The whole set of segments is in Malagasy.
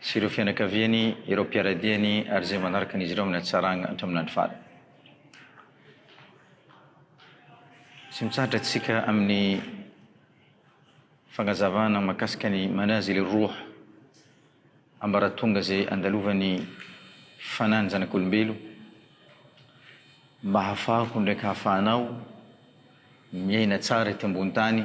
sy ireo fianakaviany, ireo mpiara-diany ary izay manaraka an'izy ireo amin'ny hatsarana hatramin'ny andro farany. Tsy mitsahatra antsika amin'ny fagnazavana mahakasika ny manazil roh, ambaratonga izay andalovan'ny fanan'ny zanak'olombelo mba hahafahaho ndraiky hahafahanao miaina tsara eto ambony tany,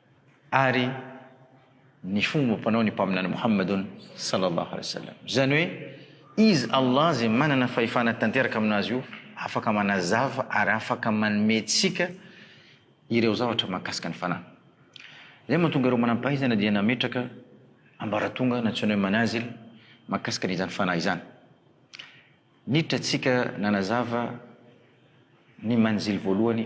ary ny fomba mpanao ny mpaminany Mohamadun sallallahu alaihi wasallam. Izany hoe Izy, Allah, izay manana fahefana tanteraka amin'azy io, afaka manazava ary afaka manomentsika ireo zavatra mahakasika ny Fanahy. Izay mahatonga ireo manam-pahaizana dia nametraka ambaratonga nantsoina hoe manazil mahakasika an'izany Fanahy izany. Niditra antsika nanazava ny manzil voalohany.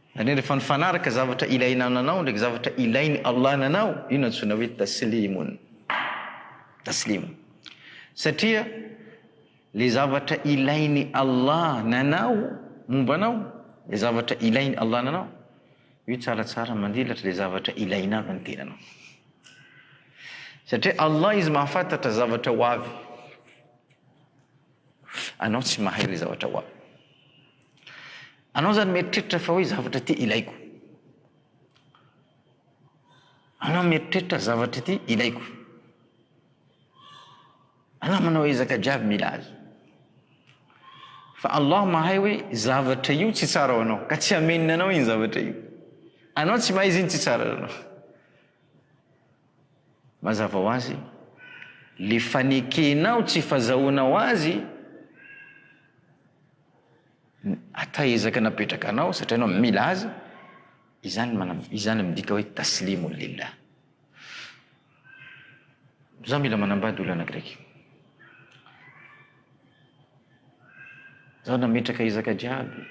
Ary rehefa nifanaraka zavatra ilaina ananao ndraiky zavatra ilain'i Allah ananao, io no antsoina hoe taslimun, taslim. Satria le zavatra ilain'i Allah nanao momba anao, le zavatra ilain'i Allah ananao, io tsaratsara mandilatra le zavatra ilaina avy ny tenanao. Satria Allah izy mahafantatra zavatra ho avy. Anao tsy mahay le zavatra ho avy. Anao zany mieritreritra fa hoe zavatra ity ilaiko. Anao mieritreritra zavatra ity ilaiko. Anao manao ezaka jiaby mila azy. Fa Allah mahay hoe zavatra io tsy tsara ho anao, ka tsy hamenina anao iny zavatra io. Anao tsy mahay izy iny tsy tsara ho anao. Mazava ho azy, le fanekenao tsy fazahoanao azy Ata ezaka napetraka anao satria anao mila azy, izany manam- izany midika hoe taslimun lillah. Za mila manambady olana graiky. Za nametraka ezaka jiaby.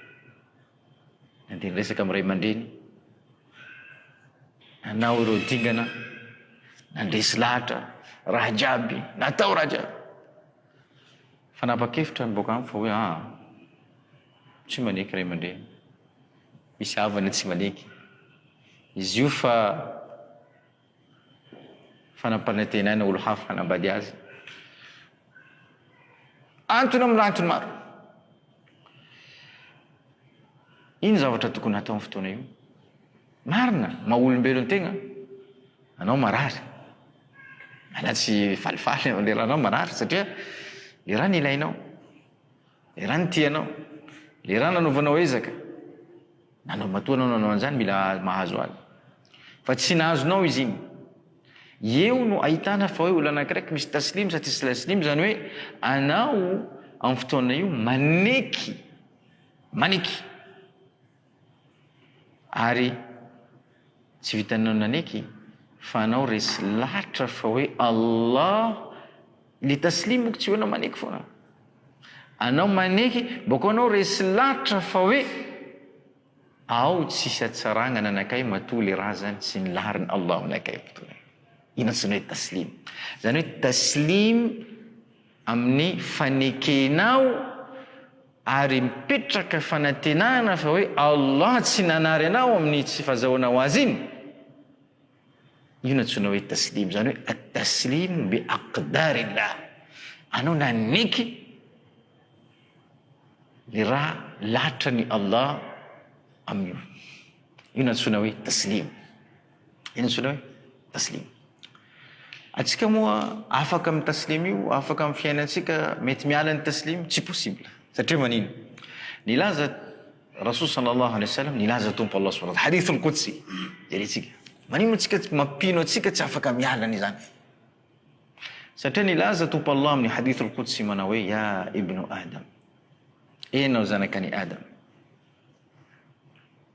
Nandeha niresaka amin'ny ray aman-dreny. Nanao ireo dingana, nandresy lahatra, raha jiaby, natao raha jiaby. Fanapa-kevitra miboaka amiko fa hoe aa. Tsy maneky ray aman-dreny. Misy havany tsy maneky. Izy io fa fa nampanantenaina olo hafa hanambady azy. Antony amin'ny antony maro. Ino zavatra tokony hatao am fotoana io? Marina, maha olombelo ny tegna, anao marary, anao tsy falifaly am le raha anao marary satria le raha nilainao, le raha nitianao, le raha nanovanao ezaka, Nanao matoa anao nanao an'izany mila mahazo azy. Fa tsy nahazonao izy iny. Eo no ahitana fa hoe olona anankiray misy taslim sa tsisy taslim izany hoe anao amin'ny fotoana io maneky maneky ary Tsy vitanao naneky fa anao resy latra fa hoe Allah le taslim moko tsy hoe anao maneky foana anao maneky boko anao resy latra fa hoe ao tsisy atsaragna nanakay matoa le razany sy ny lahariny Allah aminakay mitoana ina zany hoe taslim zany hoe taslim aminy fanekenao Ary mipetraka fanantenana fa hoe Allah tsy nanary anao amin'ny tsy fazahoana ho Azy iny, io no antsoina hoe taslim, izany hoe at-taslim bi aqdarillah, anao nanaiky ny raha latran'i Allah amin'io, io no antsoina hoe taslim. Inona antsoina hoe Taslim? Antsika moa afaka amin'ny Taslim io, afaka amin'ny fiainantsika, mety miala ny Taslim? Tsy possible. Satria manino? Nilaza Rasul sallallahu alayhi wa sallam, nilaza Tompo Allah subhanahu wa ta'ala, hadith al-qudsi, jerentsika. Manino antsika tsy mampino antsika tsy afaka miala an'izany? Satria nilaza Tompo Allah amin'ny hadith al-qudsi manao hoe, ya ibnu Adam, enao zanakani Adam,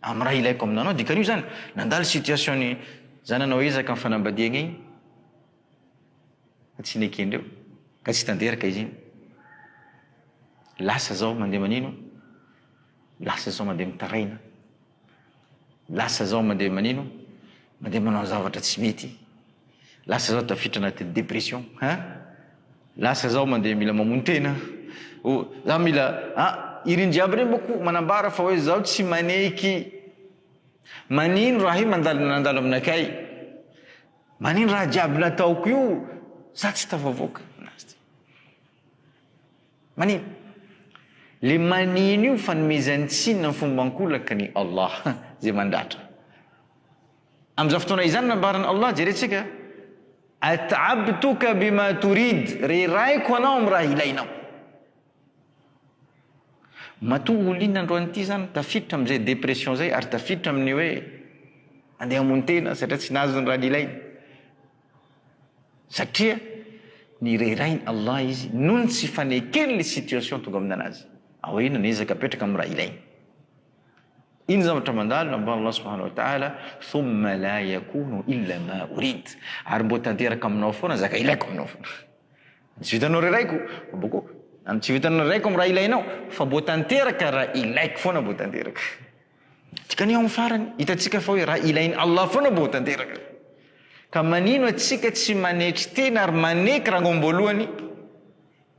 Amin'ny raha ilaiko aminanao, dikany io zany, nandalo situation ny zananao ezaka ny fanambadiagna igny, fa tsy nekendreo, ka tsy tanteraka izy igny. Lasa zao mandeha manino? Lasa zao mandeha mitaraina. Lasa zao mandeha manino? Mandeha manao zavatra tsy mety. Lasa zaho tafiditra anatin'ny depression a! Lasa zaho mandeha mila mamono tena o! Zaho mila a! Ireny jiaby ireny manko manambara fa hoe zaho tsy maneiky. Manino raha hoe mandalo nandalo aminakay? Manino raha jiaby nataoko io za tsy tafavoaka? Manino? Le manino io fanomezan-tsiny amin'ny fomba ankolaka ny Allah ze mandratra. Amin'izany fotoana izany nambaran'i Allah, Jerentsika, At'abtuka bima turid, Rerahiko anao amin'ny raha ilainao. Matoa ol'inona androany ity izany tafiditra amin'izay dépression izay ary tafiditra amin'ny hoe andeha hamono tena satria tsy nahazo ny raha nilainy. Satria nirerahin'i Allah izy noho ny tsy fanekeny ilay situation tonga amin'anazy. Aoriana niezaka hapetraka amin'ny raha ilainy. Iny zavatra mandalo lamban' Allah subhanahu wa ta'ala, thumma la yakunu illa ma urid, ary mboa tanteraka aminao foana zaka ilaiko aminao foana. Ny tsy vitanao raha ilaiko, boko, ny tsy vitanao raha ilaiko amin'ny raha ilainao, fa mboa tanteraka raha ilaiko foana mboa tanteraka. Dikany ao amin'ny farany, hitantsika fa hoe raha ilain' Allah foana mboa tanteraka. Ka manino atsika tsy manetry tena ary maneky ranga am-boalohany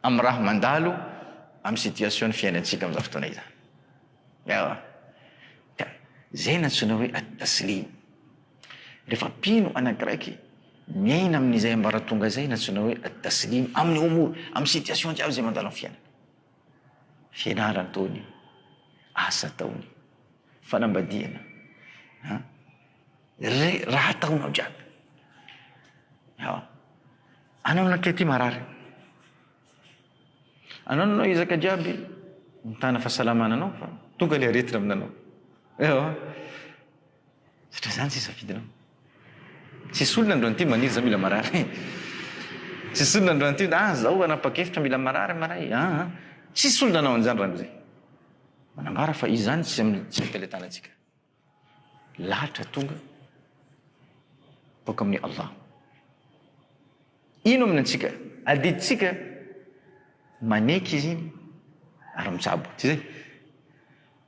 amin'ny raha mandalo amin'ny situation ny fiainantsika amin'izany fotoana izany. Ewa. Ka zay nantsoina hoe At-Taslim. Rehefa mpino anakiraiky miaina amin'izay ambaratonga izay nantsoina hoe At-Taslim amin'ny Umur, amin'ny situation jiaby izay mandalo amin'ny fiainana. Fianarana ataony io, asa ataony, fanambadiana, an, re- raha ataonao jiaby. Ewa. Anao lahy kely ty marary. Anao no anao ezaka jiaby mitana fahasalamana anao fa tonga ilay aretina aminanao. Ewa. Satria zany sisa fidinao. Tsisy olona androany ty maniry za mila marary. Tsisy olona androany ty ah zao hanapa-kevitra mila marary maray. Ah, ah. Tsisy olona anao an'izany raha mizay. Manambara fa izany tsy amin'ny tsy amin'ny fahaletanantsika. Lahatra tonga boaka amin'i Allah. Ino amin'ny antsika? Adidintsika maneky izy iny ary mijabo. Tsy izay?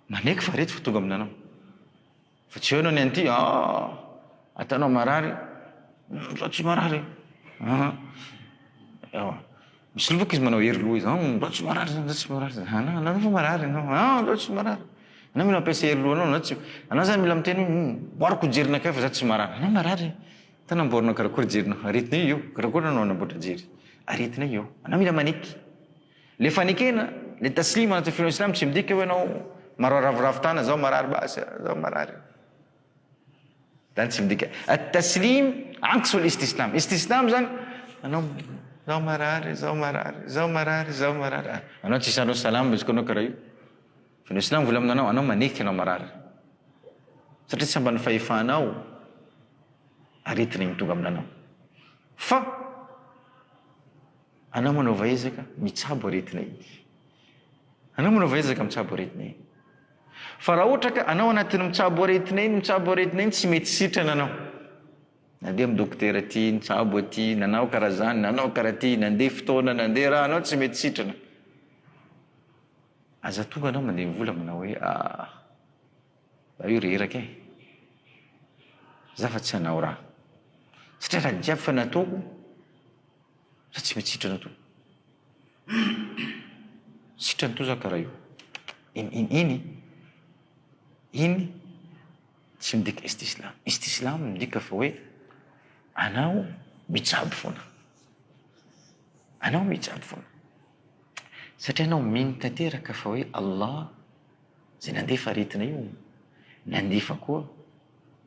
Maneky fa reto vao tonga amin'anao. Fa tsy eo ianao ny an'ity, ah, ataonao marary, izaho tsy marary e. Ah, ewa. Misoloky izy manao hery loha izy, an, ndao tsy marary zany, ndao tsy marary zany, an, anao anao fa marary ianao, an, ndao tsy marary, anao mila mampiasa hery lohanao, anao tsy, anao zany mila miteny hoe, humm, amboariko jery nakay fa za tsy marary, anao marary e, ta namboarinao karakory jerinao, aretinay eo, karakory anao nanamboatra jery, aretinay eo, anao mila maneky, le fanekena, le taslima anatin'ny finoana silamo tsy midika hoe anao, marao ravoravo tana, zaho marary basy a, zaho marary. Zany tsy midika At taslim anks ol istisnam. Istisnam zany anao zaho marary, zaho marary, zaho marary, zaho marary. Ah, anao tsy isalo salam izy koa anao karaha io. Fa ny islam volamina anao, anao maneky anao marary. Satria tsy amban'ny fahefanao aretina igny tonga aminanao. Fa Anao manaova ezaka mitsabo aretina iny. Anao manaova ezaka mitsabo aretina iny. Fa raha ohatra ka anao anatin'ny mitsabo aretina iny, mitsabo aretina iny, tsy mety sitrana anao. Nandeha amin'ny dokotera aty, nitsabo aty, nanao karaha zany, nanao karaha ty, nandeha fotoana, nandeha raha, anao tsy mety sitrana. Aza tonga anao mandeha vola manao hoe ah, za io reraka e. Za fa tsy hanao raha. Satria raha jiaby fa nataoko, Raha tsy mety sitrana toa. Sitrany toa za kara io. In in iny? Iny tsy midika istislam. Istislam midika fa hoe anao mijab foana. Anao mijab foana. Satria anao mino tanteraka fa hoe Allah zay nandefa aretina io, nandefa koa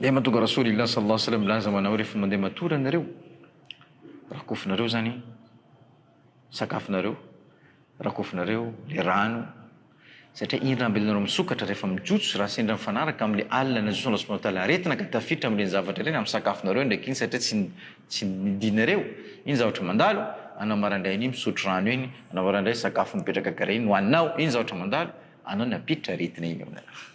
Dia mahatonga Rasoulillah sallallahu alayhi wa sallam milaza ho anao hoe rehefa mandeha matory ianareo, rakofinareo izany ny sakafonareo, rakofinareo ilay rano, satria iny rano be ilay nareo misokatra rehefa mijotso raha sendra mifanaraka amin'ilay alina najotson' Allah subhanahu wa ta'ala aretina ka tafiditra amin'ireny zavatra ireny amin'ny sakafonareo indraiky iny satria tsy tsy nidinareo iny zavatra mandalo, anao maraindray anio misotro rano iny, anao maraindray sakafo mipetraka karaha iny no haninao iny zavatra mandalo, anao nampiditra aretina iny ao aminareo.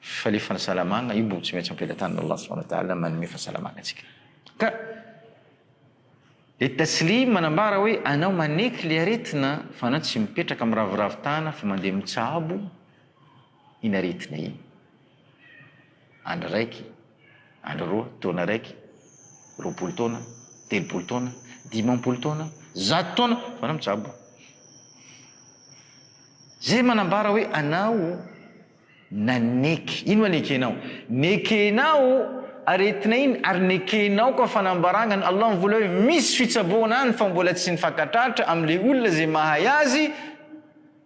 Fa le fansalamagna io mbo tsy maintsy ampelatan'ny Allah subhana wa ta'ala manome fahasalamagna antsika. Ka le Taslim manambara hoe anao maneky le aretina fa anao tsy mipetraka miraviravy tana fa mandeha mitsabo iny aretina iny. Andry raiky. andro roa, taona raiky, roapolo taona, telopolo taona, dimampolo taona, zato taona, fa anao mitsabo. Zay manambara hoe anao naneky. Ino anekenao? Nekenao aretina iny ary nekenao koa fanambaragna ny Allah mivola hoe misy fitsaboana any fa mbola tsy nifankatratra amle olona zay mahay azy,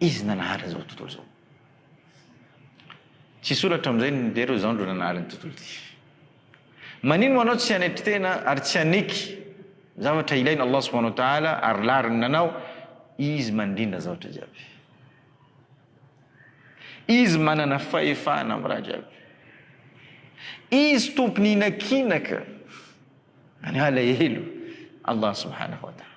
Izy nanahary an'izao tontolo izao. Tsy hisoratra amin'izay ny Mpihary hoe izao no nanahary ny tontolo ity. Manino moa anao tsy hanetry tena ary tsy haneky zavatra ilain' Allah subhanahu wa ta'ala ary lariny nanao, Izy mandrindra zavatra jiaby. Izy manana fahefana amin'ny raha jiaby. Izy Tompon'ny inakinaka, any alahelo Allah subhanahu wa ta'ala.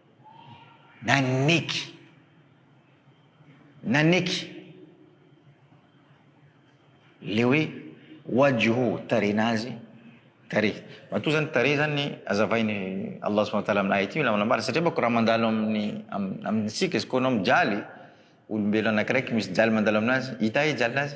Naneky. Naneky. Le hoe wajuhu tarehina azy tarehy. Matoa zany tarehy zany azavainy Allah subhanahu wa ta'ala amin'ny ayat io na manambara satria manko raha mandalo amin'ny amintsika izy kô anao mijaly olombelo anakiraiky misy jaly mandalo aminazy hita e jalinazy.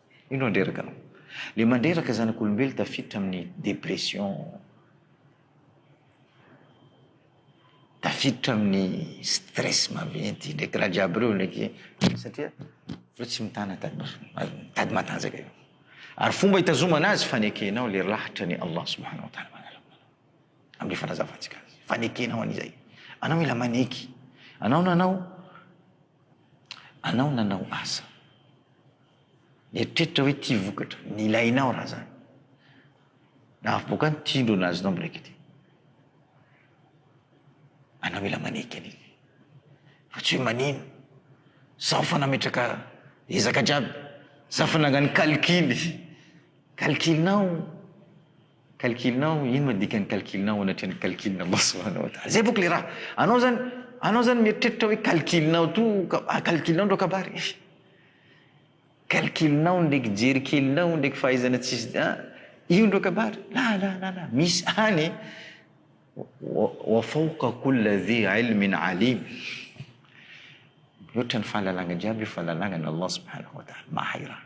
Indro handreraka anao. Le mandreraka zanak'olombelo tafiditra amin'ny dépression, tafiditra amin'ny stress maventy, ndreky raha jiaby reo ndreky, satria reo tsy mitana tady matanjaka io. Ary fomba hitazomana azy fanekenao le lahatra ny Allah subhanahu wa ta'ala amin'ny fanazavantsika azy, fanekenao an'izay. Anao mila maneky, anao nanao. Anao nanao asa. Mieritreritra hoe tia vokatra, ny ilainao raha zany. Nahavoaka ny tindro nahazinao miraikity. Anao mila maneky an'iny. Fa tsy hoe manino. Zaho fa nametraka ezaka jiaby. Zaho fa nangano calcul. Calcul-nao. Calcul nao, ino ma dikan'ny calcul nao anatrehan'ny calcul maso anao da zay bôka le raha, anao zany, anao zany mieritreritra hoe calcul nao to ka, calcul nao ndreo kabary eh! Calcul nao ndreky jery kelinao ndreky fahaizana tsisy da an! io ndreo kabary, la la la la, misy any e! wa, wa fawqa kulla dhi ilmin alim, mihoatra ny fahalalagna jiaby io fahalalagna an'Allah subhanahu wa ta'ala, mahay raha.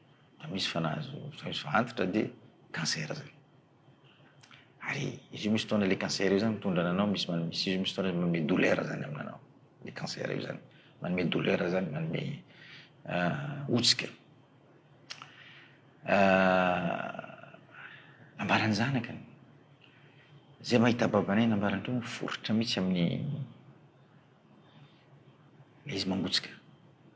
Raha misy fa nahazo fa antitra dia cancer zay. Ary izy io misy fotoana le cancer io zany mitondra ananao misy man- misy izy io misy fotoana manome douleur zany aminanao. Le cancer io zany manome douleur zany manome ah, hotsika. Ah, nambaran'ny zanakany. Zay mahita babanay nambarany teo miforitra mihitsy amin'ny le izy mangotsika.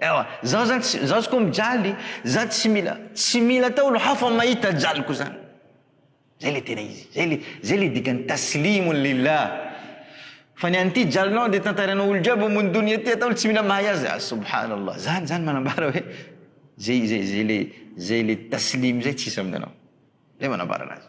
Ewa, zaho zany tsy, zaho ko mijaly, za tsy mila, tsy mila atao olo hafa mahita jaliko zany. Zay le tena izy, zay le, zay le dikan'ny taslimun lillah. Fa ny an'ity jalinao de tantarainao olo jiaby ambony donia ty atao olo tsy mila mahay azy, ah subhanallah. Zany zany manambara hoe zay, zay, zay le, zay le taslim zay tsisy amin'anao. Zay manambara anazy.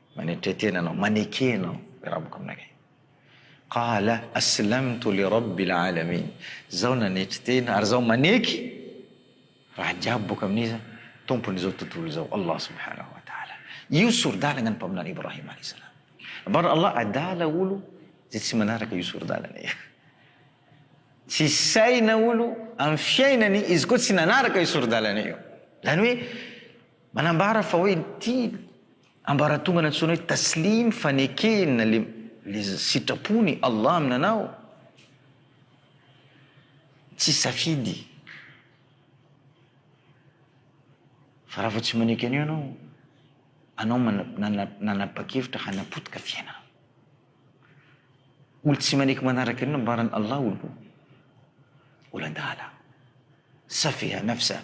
Manetre tena anao, maneke anao le raboko aminakay. Qala, aslamtu li rabbil alamin, zaho nanetry tena ary zaho maneky raha jiaby boka amin'iza? Tompon'izao tontolo izao, Allah subhanahu wa ta'ala. Io sori-dalagna ny Mpaminany Ibrahim alayhi salam. Nambaran'i Allah, adala olo zay tsy manaraka io sori-dalagna io. Tsy saina olo amin'ny fiainany izy koa tsy nanaraka io sori-dalana io. Zany hoe manambara fa hoe ity Ambaratonga nantsoina hoe Taslim fanekeny na le le sitrapony Allah aminanao tsy safidy fa raha vao tsy maneky an'io ianao anao nanapa-kevitra hanapotika fiainana olo tsy maneky manaraka an'io nambaran'i Allah olo olan-dahala safeha nafsa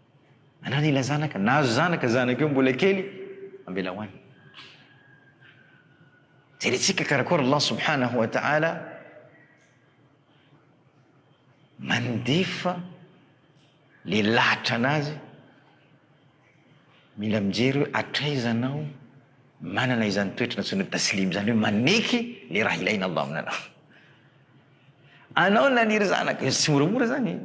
Anana ilay zanaka, nahazo zanaka zanaka io mbola kely, ambela ho any. Jerentsika karakôry Allah subhanahu wa ta'ala mandefa le lahatra anazy mila mijery hoe hatraiza anao manana izany toetra natsoina taslim izany hoe maneky le raha ilaina Allah aminanao anao naniry zanaka tsy moramora zany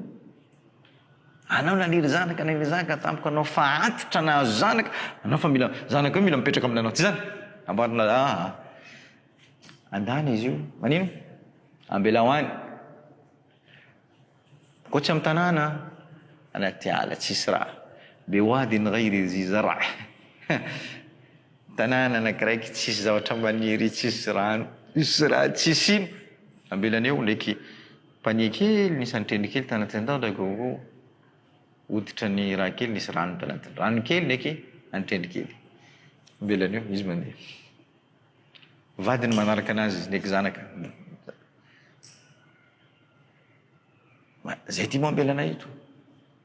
Anao naniry zanaka naniry zanaka tampoka anao fa antitra nahazo zanaka anao fa mila zanaka io mila mipetraka aminanao tsy zany amboarina aa andany izy io manino ambelao any koa tsy amy tanàna anaty ala tsisy raha be wady ny ray reziza raha tanàna anakiraiky tsisy zavatra maniry tsisy rano tsisy raha tsisy ino ambelaneo ndraiky Panier kely nisy antrendry kely tanatin tao ndray gogo hoditra ny raha kely nisy rano tanatiny rano kely ndreky antrendry kely velany eo izy mandeha vadiny manaraka anazy izy ndreky zanaka zay ty moa ambela anay eto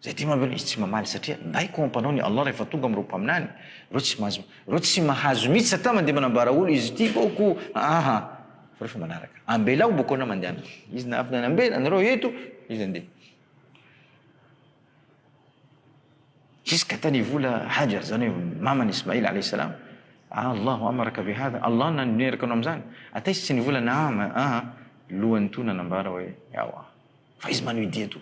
Zay tia mamelona izy tsy mamaly satria baiko ao ampanao ny Allah rehefa tonga amin'ireo mpaminany ireo tsy mahazo ireo tsy mahazo mitsy satria mandeha manambara olo izy ity baoko aa fa rehefa manaraka ambelao baoko anao mandeha aminy izy na avy nanambela anareo eto izy andeha jusqu'à tany ivola hajar zany hoe mamany ismail alayhi salam Allah amaraka ve hadha Allah naneraka anao amizany ata izy tsy nivola naam aa lohany toa nanambara hoe ewa fa izy manohy dia toa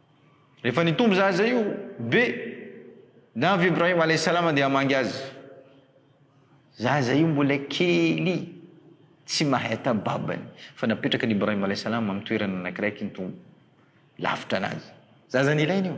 Rehefa nitombo zaza io be dia avy Ibrahim alayhi salam dia hamangy azy. Zaza io mbola kely tsy mahay ata babany fa napetraka ny Ibrahim alayhi salam amin'ny toerana anankiray kintombo lavitra anazy. Zaza nilaina io.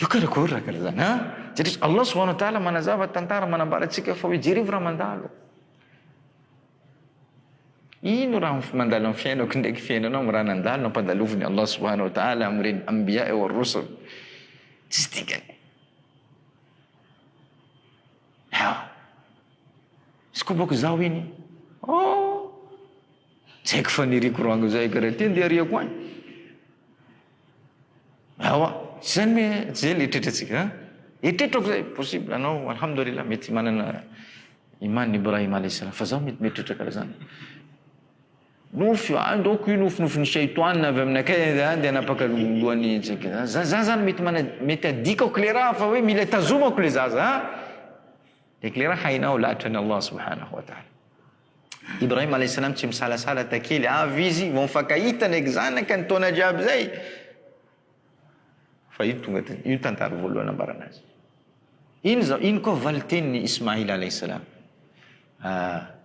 Io karakory ra kara zany an! Satria Allah subhana wa taala manazava tantara manambara antsika fa hoe jereo raha mandalo. Ino raha mandalo am fiainako ndraiky fiainanao am raha nandalo nampandalovin'i Allah subhana wa taala amin'ireny Ambiya wa rusul. Tsisy dikany. Haa! Sikobako zaho iny. Oh! Tsy haiko faniriako ranga zay kara ty ndeha ariako any. Ewa, zay ny zay ny eritreritra tsika an! Eritreritro akoizay, possible anao alhamdoulilah mety manana iman Ibrahim alaihi salam fa zaho mety mieritreritra karaha zany. Nofy io, any donc io nofinofin'ny shaitoan avy aminakay an dia hanapaka lohan'ny antsika zany. Za za zany mety mana mety adikako le raha fa hoe mila tazomako le zaza an! Le le raha hainao lahatra an'i Allah subhanahu wa ta'ala. Ibrahim Alaih Salam tsy misalasala takely avy izy vao mifankahita ndraiky zanaka ny taona jiaby zay fa io tonga de io tantara voalohany nambarana azy iny zao iny koa valiteniny Ismail Alaih Salam ah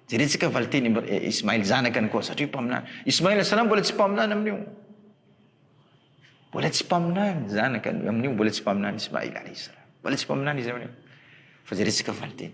jeretsika valiteny eh, Ismail zanakany koa satria mpaminany Ismail Alaih Salam mbola tsy mpaminany amin'io mbola tsy mpaminany zanaka amin'io mbola tsy mpaminany Ismail Alaih Salam mbola tsy mpaminany izy amin'io fa jeretsika valiteny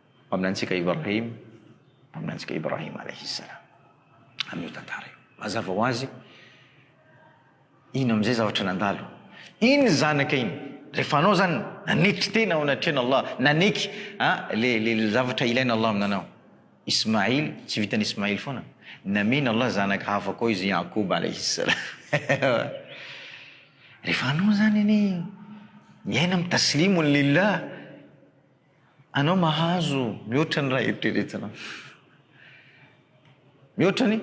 Mpaminantsika Ibrahim, Mpaminantsika Ibrahim Alayhis Salam, amin'io tantara io. Mazava ho azy, ino amin'izay zavatra nandalo? Iny zanaka iny, rehefa anao izany nanetry tena ao anatrehan'Allah, naneky le zavatra ilain' Allah aminanao. Ismail, tsy vitan'i Ismail foana, namen' Allah zanaka hafa koa izy Ya'qub Alayhis Salam. Rehefa anao izany anie miaina amin'ny taslimun lillah, Anao mahazo mihoatra ny raha eritreretinao. Mihoatra ny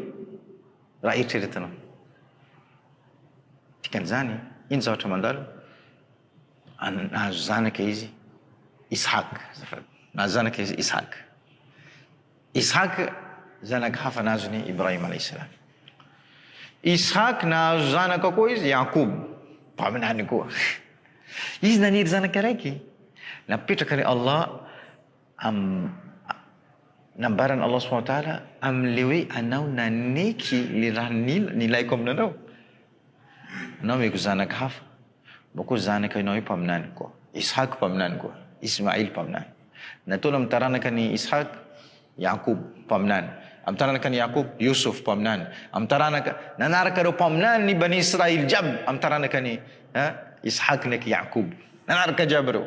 raha eritreretinao. Dikan'izany, ino zavatra mandalo? An- nahazo zanaka izy Isahaka, azafady. Nahazo zanaka izy Isahaka. Ishak, zanaka hafa nahazo ny Ibrahim alayhissalam. Ishak nahazo zanaka koa izy, Yaqub, mpaminany koa. Izy naniry zanaka raiky. Napetraka an'i Allah am nambaran'i Allah subhanahu wa ta'ala amin'ilay hoe anao naneky ny raha nil nilaiko aminanao. Nomeko zanaka hafa, moa koa zanaka Noe mpaminany koa, Ishak mpaminany koa, Ismail mpaminany. Nataony amin'ny taranaka an'i Ishak, Yaqub mpaminany, amin'ny taranaka an'i Yaqub, Yusuf mpaminany, amin'ny taranaka nanaraka ireo mpaminany ny Bani Israil jiaby amin'ny taranaka an'i Ishak ndraiky Yaqub, nanaraka jiaby ireo.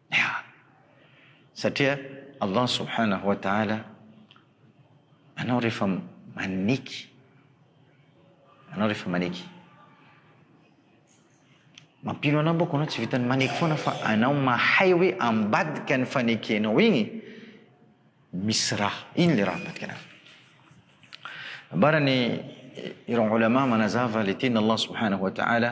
Yaa! Satria Allah subhanahu wa ta'ala anao rehefa maneky anao rehefa maneky mampino anao manko anao tsy vitan'ny maneky foana fa anao mahay hoe ambadika ny fanekenao igny misy raha ino le raha ambadika anazy ambarany ireo ulama manazava le teny Allah subhanahu wa ta'ala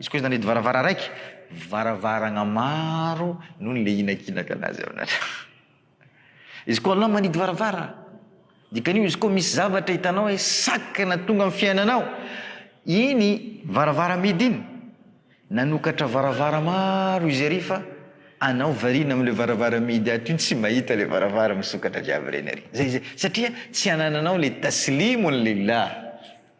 Izy koa izy nanedy varavara raiky, varavaragna maro no nilehinakilaka anazy ao anatreo. Izy koa Allah manidy varavara, dikan'io izy koa misy zavatra hitanao hoe sakana tonga amin'ny fiainanao, iny varavara midy iny nanokatra varavara maro izy ary fa anao variana amin'ilay varavara midy ato iny tsy mahita ilay varavara misokatra jiaby ireny ary. Zay zay, satria tsy anananao ilay taslimun lillah.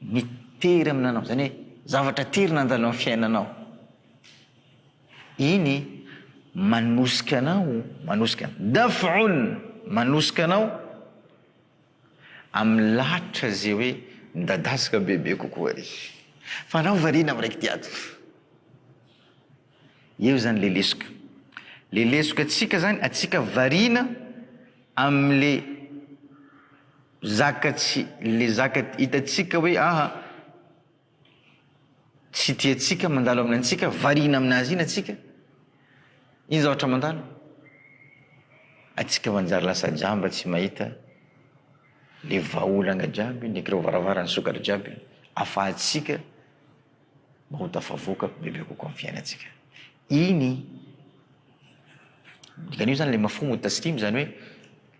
Mitery aminanao, izany hoe zavatra tery nandalo amin'ny fiainanao. Iny manosika anao, manosika anao, daf'un, manosika anao amin'ny lahatra izay hoe midadasika bebe kokoa ary. Fa anao variana amin'ny raikity ato. Eo izany ilay lesoka. Ilay lesoka antsika izany, antsika variana amin'ilay. Zaka tsy le zaka hitantsika hoe aha tsy tiantsika mandalo aminy antsika variana aminazy iny atsika iny zavatra mandalo atsika manjary lasa jamba tsy mahita le vahaolana jiaby ny kirovaravara ny sokatra jiaby afahatsika Mba ho tafavoaka bebe kokoa ny fiainantsika. Iny Dikan'io izany ilay mafhumu taslim izany hoe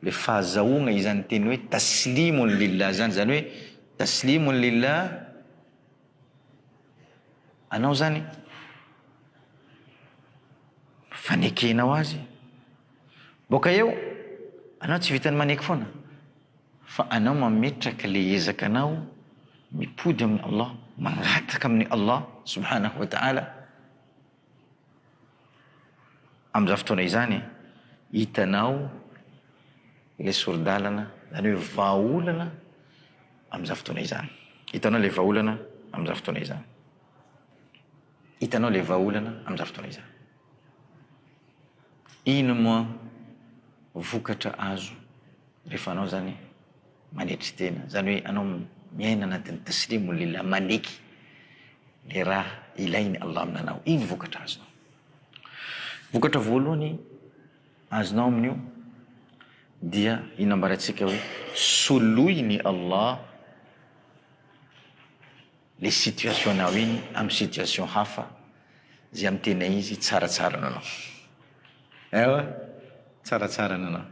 ilay fahazahoana izany teny hoe taslimun lillah izany, izany hoe taslimun lillah anao izany fanekenao azy. Boaka eo anao tsy vitan'ny maneky foana. Fa anao mametraka le ezaka nao mipody amin'i Allah, mangataka amin'i Allah subhanahu wa ta'ala amin'izany fotoana izany e, hitanao le sori-dalana zany hoe vahaolana amin'izany fotoana izany, hitanao le vahaolana amin'izany fotoana izany, hitanao le vahaolana amin'izany fotoana izany. Ino moa vokatra azo rehefa anao zany manetry tena, zany hoe anao miaina anatin'ny taslimu lillah, maneky le raha ilain'i Allah amin'anao, ino vokatra azonao? Vokatra voalohany azonao amin'io dia io nambarantsika hoe soloin'i Allah le situation nao iny am situation hafa ze am tena izy tsara tsara nanao ewa tsara tsara nanao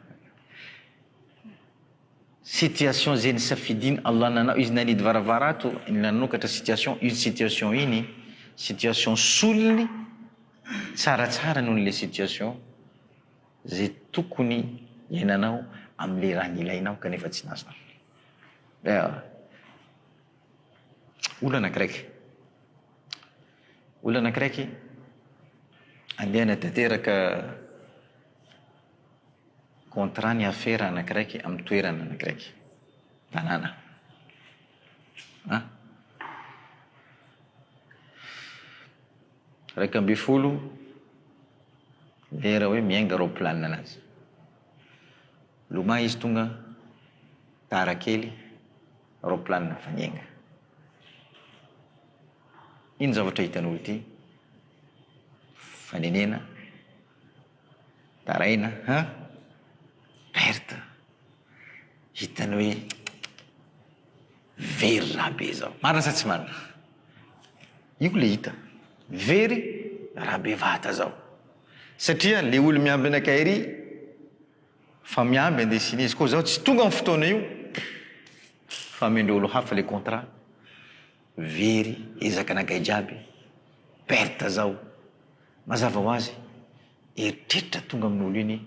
situation ze nisafidin Allah nanao izy nanidy varavara ato ny nanokatra situation iny situation iny situation solony tsara tsara noho le situation ze tokony hiainanao am le raha nilainao kanefa tsy nazonao ewa. Olana graiky. Olana graiky andiana tanteraka contrat ny afera ana graiky amin'ny toerana ana graiky. Tanàna. Ah. Raika amby folo lera hoe miainga raoplanina anazy. Lomay izy tonga tara kely. Roplanina fa niainga. Ino zavatra hitanao ity? Fanenena, taraina an! Perte. Hitany hoe very raha be zao. Marina sa tsy marina? Io le hita. Very raha be vata zao. Satria le olo miambina kay ry. Fa miamby andesina izy koa zaho tsy tonga am fotoana io fa amindreo olo hafa le contrat very ezaka nagay jiaby perte zaho mazava ho azy eritreritra tonga amin olo iny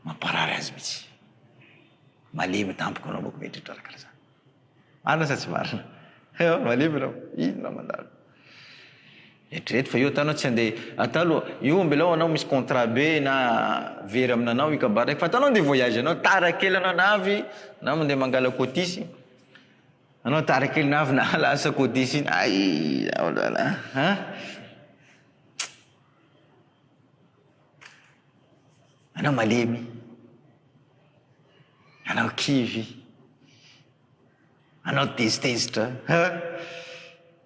mamparary azy mitsy malemy tampoka anao mako mieritreritra raha kara zany. Marina sa tsy marina? Ewa malemy ianao, inona mandalo? Eritrereto fa io ataonao tsy andeha atao aloha, io ambelao anao misy contrat be na very aminanao io kabary raiky fa ataonao andeha voyage anao, tara kely anao na avy na mandeha mangala cotisy, anao tara kely na avy na lasa cotisy iny, ay zaho zany a an! Anao malemy, anao kivy, anao tezitezitra, ha!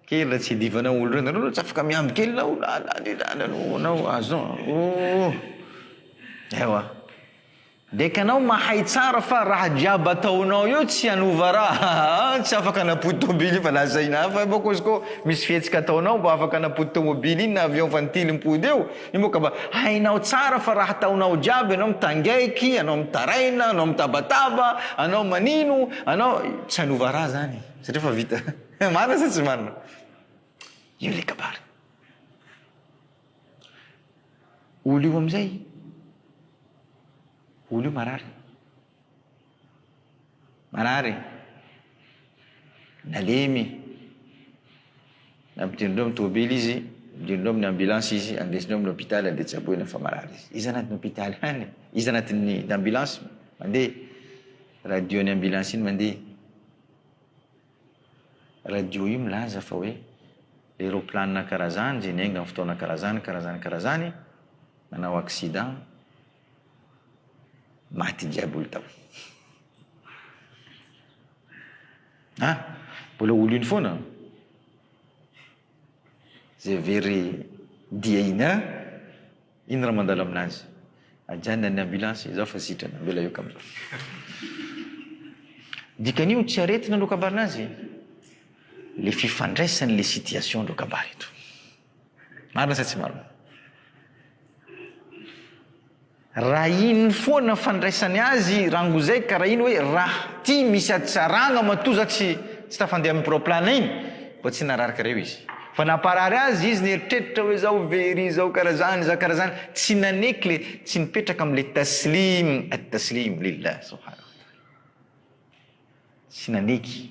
Kely raha tsy idivanao olo reny, anao raha tsy afaka miamby kely na olo ah la le la la lo anao azon oh! Ewa. Dia ka anao mahay tsara fa raha jiaby ataonao eo tsy hanova raha, aa tsy afaka hanapody tômôbily io fa lazaina hafa, bôka izy kô misy fihetsika ataonao mba afaka hanapody tômôbily iny na avion fa ny tily mipody eo, Io moa ka mba hainao tsara fa raha ataonao jiaby ianao mitangaiky, ianao mitaraina, ianao mitabataba, ianao manino, ianao, tsy hanova raha zany satria efa vita. Marina sa tsy marina? Io le kabary. Olo io amizay, olo io marary. Marary e! Nalemy! Nampidirin'ireo amin'ny tômôbily izy, nampidirin'ireo amin'ny ambulance izy, andesin'ireo amin'ny hôpitaly andeha tsaboina fa marary izy. Iza anatin'ny hôpitaly any e? Iza anatin'ny ambulance mandeha? Radio ny ambulance iny mandeha. Radio io milaza fa hoe le rôplanina karazany, ze niainga amin'ny fotoana karazany, karazany, karazany, nanao accident, Maty diaboly tao. Ah! Mbola ho lony foana. Zay very dia iny ah! Iny raha mandalo aminazy. Ajanona ny ambulance izaho fa sitrana mbola eo kambana. Dikan'io tsy aretina no kabarina azy. Le fifandraisan'le situation reo kabary eto. Marina sa tsy marina? Raha iny foana fandraisany azy rangozay ka raha iny hoe raha ty misy hatsaragna matoa za tsy tsy tafandeha amin'ny proplane iny mba tsy narary kara io izy fa namparary azy izy nieritreritra hoe zao very zao kara zany za kara zany tsy naneky le tsy nipetraka amle taslim at taslim lillah subhana tsy naneky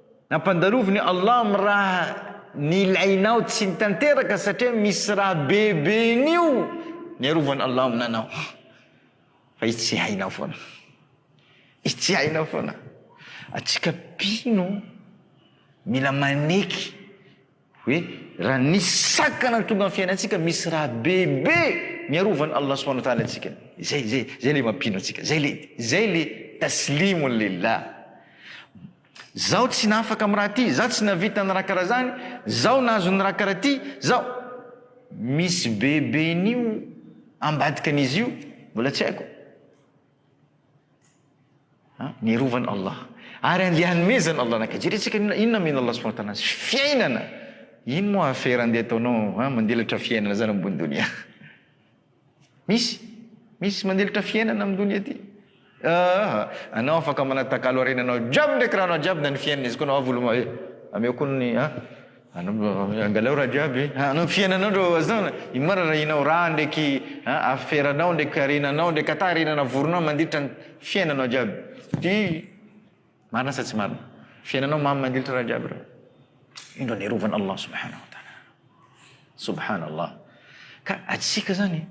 Ampandaloviny Allah amin'ny raha nilainao tsy nitanteraka satria misy raha beben'io niarovany Allah aminy anao fa i tsy hainao foana i tsy hainao foana atsika mpino mila maneky Hoe raha nisy sakana ny tonga ny fiainantsika misy raha bebe niarovan'i Allah subhanahu wa ta'ala antsika. Zay, zay, zay le mampino antsika. Zay le, zay le taslimun lillah. Zaho tsy nafaka amin'ny raha ty, zaho tsy navita ny raha karaha zany, zaho nahazo ny raha karaha ty, zaho. Misy beben'io ambadikan'izy io mbola tsy haiko. ny rovan' Allah ary andeha hanomezan' Allah anaka, jeretsika ny olona inona omen'Allah subhanahu wa ta'ala azy, fiainana, ino moa afera andeha ataonao an, mandelatra fiainana zany ambony donia, misy misy mandelatra fiainana amin'ny donia ty aa, anao afaka manatakalo harenanao jiaby ndraiky rahanao jiaby na ny fiainana izy koa anao avo loma e, ameo koa ny an. Anao angalao raha jiaby a, anao fiainanao ndro azona, ino marina raha inao raha ndreky a aferanao ndreky harenanao ndreky ata harena navorinao mandritra ny fiainanao jiaby ty marina sa tsy marina? Fiainanao mamy mandiltra raha jiaby reo. Indro niarovan' Allah subhana wa taala anao. Subhana Allah. Ka atsika zany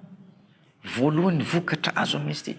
voalohany vokatra azo amin'izy ty.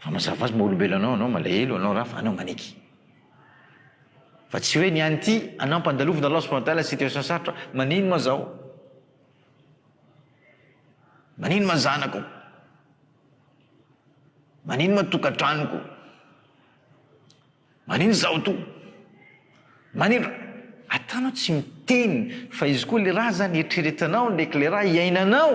Raha mazava azy maha-olombelona anao ianao, malahelo ianao raha fa anao maneky. Fa tsy hoe ny an'ity anampa andalovina Allah subhanahu wa ta'ala situation sarotra, manino ma zaho? Manino ma zanako? Manino ma tokantranoko? Manino zaho to? Manino? Ataonao tsy miteny fa izy koa le raha zany eritreretanao ndraiky le raha iainanao.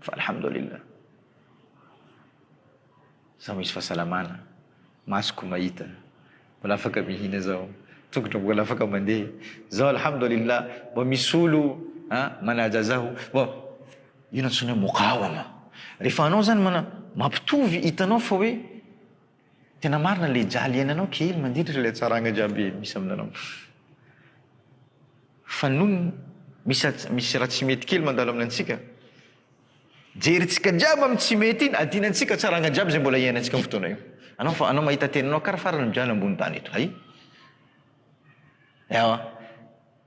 Fa alhamdoulilah. Zaho misy fahasalamana, masoko mahita, mbola afaka mihina zaho, tongotro mbola afaka mandeha. Zaho alhamdoulilah mbô misy olo a manaja zaho. Mbô io ny antsoina hoe mokawama. Rehefa anao zany mana mampitovy hitanao fa hoe Tena marina le jaly iainanao kely mandiditra le tsaranga jiaby misy aminareo fa non misy misy raha tsy mety kely mandalo aminantsika jerintsika jiaby amin'ny tsy mety iny adinantsika tsaranga jiaby zay mbola iainantsika amin'ny fotoana io anao fa anao mahita tenanao kara farany mijaly ambony tany eto hay ewa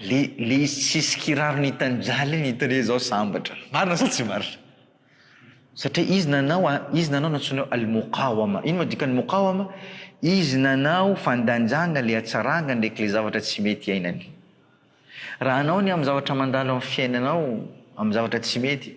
Le le izy tsy hisy kiraro nitanjaly iny itere zao sambatra. Marina sa tsy marina? Satria izy nanao a, izy nanao nantsoinao al-muqawama. Ino moa dikan'ny muqawama? Izy nanao fandanjana le hatsaranga ndraiky le zavatra tsy mety iainany. Raha anao ny amin'ny zavatra mandalo amin'ny fiainanao amin'ny zavatra tsy mety,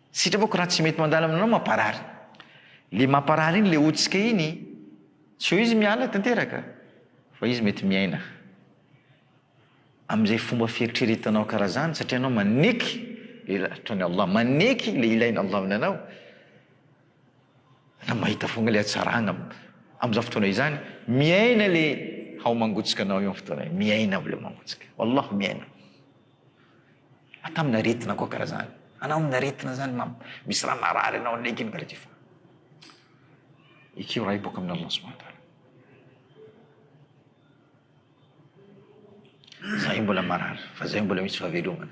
Sitrapoko raha tsy mety mandalo aminao mamparary. Le mamparary iny le otsika iny tsy hoe izy miala tanteraka fa izy mety miaina amin'izay fomba fieritreretanao karaha zany satria anao maneky le lahatran'i Allah, maneky le ilain'i Allah aminanao. Anao mahita foagna le hatsaragna am'zao fotoana izany, miaina le hao mangotsika anao io am' fotoana io, miaina aby le mangotsika, Wallah miaina. Atao amina aretina koa karaha zany. Anao amina aretina zany mam, misy raha marary anao anaiky karaha ty fa ekeo raha io boaka amin'Allah subahana wa taala. Zahay mbola marary fa zahay mbola misy fahavelomana.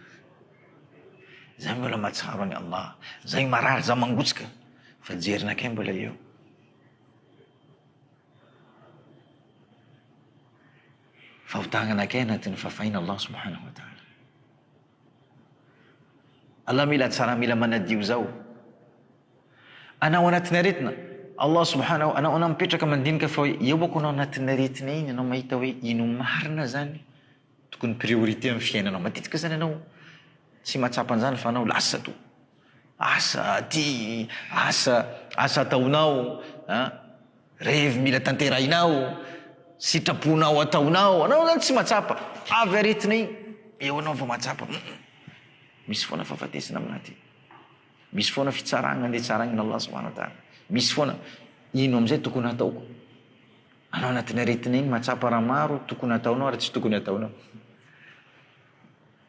Zahay mbola mahatsiaro an'i Allah. Zahay marary, zahay mangotsika fa jerinakay mbola eo. Fahotangana kay anatin'ny fafaina Allah subhanahu wa ta'ala. Allah mila tsara mila manadio zao. Anao anatin'ny aretina, Allah subhanahu anao anao mipetraka mandinika fa hoe eo ako anao anatin'ny aretina iny anao mahita hoe ino marina zany tokony priorité amin'ny fiainanao. Matetika zany anao tsy mahatsapa an'zany fa anao lasa to. Asa aty, asa, asa ataonao an, revy mila tanterahinao, sitraponao ataonao, anao zany tsy matsapa, avy aretina iny, eo anao vao matsapa, hum, misy foana fahafatesana aminah ty, misy foana fitsarana andeha tsaraina Allah subhana ta'ala, misy foana ino amizay tokony hataoko, anao anatin'ny aretina iny matsapa raha maro tokony ataonao ary tsy tokony ataonao.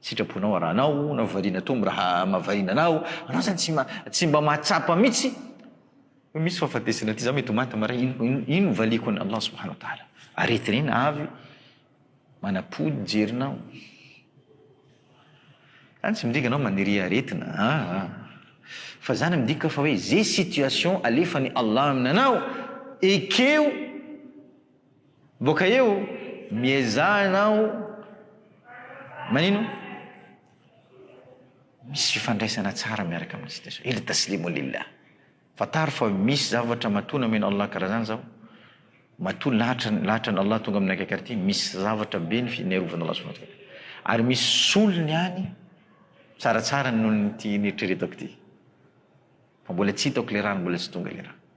Sitrapona ra anao na variana tombo raha mavariana anao, anao zany tsy ma tsy mba mahatsapa mitsy hoe misy fahafatesana ty za mety ho maty maray ino ino ino no valiako an Allah subhana wa taala aretina avy manapody jerinao zany tsy midika anao maniria aretina aa fa zany midika fa hoe ze situation alefany Allah aminanao ekeo Boaka eo, miezaha ianao manino? Misy fifandraisana tsara miaraka amin'ny situation. Ila taslimu lillah. Fantaro fa misy zavatra matoa nomen'i Allah karaha zany zao, matoa lahatra lahatra an'i Allah tonga amin'ny akaiky ary ty, misy zavatra be ny fiarovan'i Allah subhanahu wa ta'ala. Ary misy solony any tsaratsara noho ny ty neritreretako ty. Fa mbola tsy hitako le raha ary mbola tsy tonga le raha.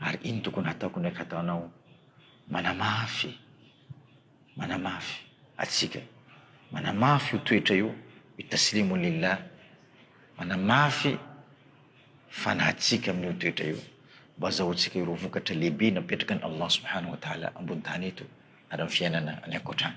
Ary ino tokony hataoko ndraiky ataonao manamafy manamafy atsika manamafy io toetra io io taslimu lillah manamafy fanahintsika amin'io toetra io mba azahoantsika ireo vokatra lehibe napetrakan'i Allah subhanahu wa ta'ala ambony tany eto ary amin'ny fiainana any ankoatrany